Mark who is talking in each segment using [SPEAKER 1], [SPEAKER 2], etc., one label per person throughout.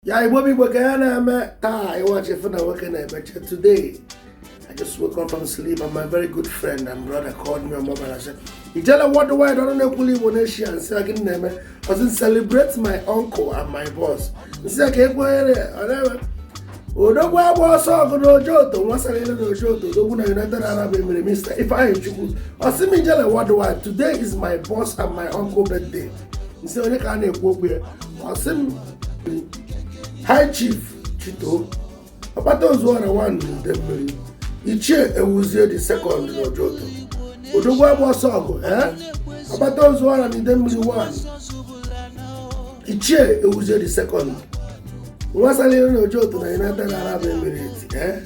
[SPEAKER 1] ya igbo bụ igbo ka ya na-eme taa ịwachi fụ na nwoke na-emeche today I just woke up from sleep and my very good friend and brother called me on mobile and said, Ijele worldwide ọnụ na-ekwuli Igbo nation nsị gịnị na-eme ọ sị celebrate my uncle and my boss nsị ka ekwenyere ọ na-eme odogwu agba ọsọ ọgụ na Ojoto nwasara ile na Ojoto odogwu na United Arab Emirates Mr Ifeanyichukwu ọ sị m Ijele worldwide today is my boss and my uncle birthday nsị onye ka a na-ekwu okwu ya ọ sị m high chief chito ọkpata ozuọra one n'Idemili Ichie Ewuzie the second n'Ojoto odogwu agba ọsọ ọgụ ee ọkpata ozuọra n'Idemili one Ichie Ewuzie the second nwasalịrị na Ojoto na United Arab Emirates ee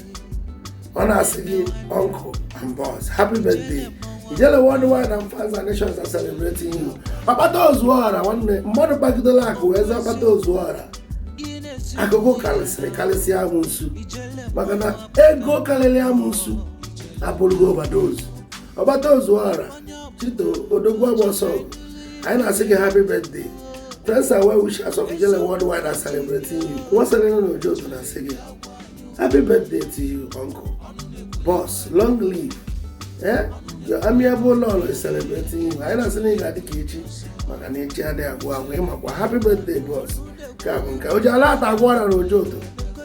[SPEAKER 1] ọ na-asị gị uncle and boss happy birthday ijele worldwide and fans and nations are celebrating you ọkpata ozuọra nwanne mmadụ kpagidela akụ wee zaa ọkpata ozuọra akụ karịsịrị karịsịa amụnsu maka na ego karịrị amụnsu abụrụgo overdose ọkpata ozuọra chito odogwu agba ọsọ anyị na-asị gị happy birthday friends and well wishers of ijele worldwide are celebrating you nwasalịna na Ojoto na-asị gị Happy birthday to you, uncle. Boss, long live. Eh? Your amiable lolo is celebrating you. Anyị na-asị na ị ga-adị ka echi maka na echi adịghị agwụ agwụ ị makwa happy birthday boss. Nke a bụ nke o ji ala ata agwọ ọrịa na Ojoto.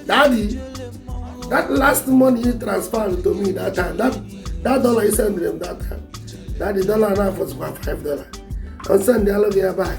[SPEAKER 1] Daddy, that last money you transferred to me that time, that, that dollar you sent them that time, daddy dollar na-afọzikwa 5 dollar. Ọ sendịalụ gị ya back.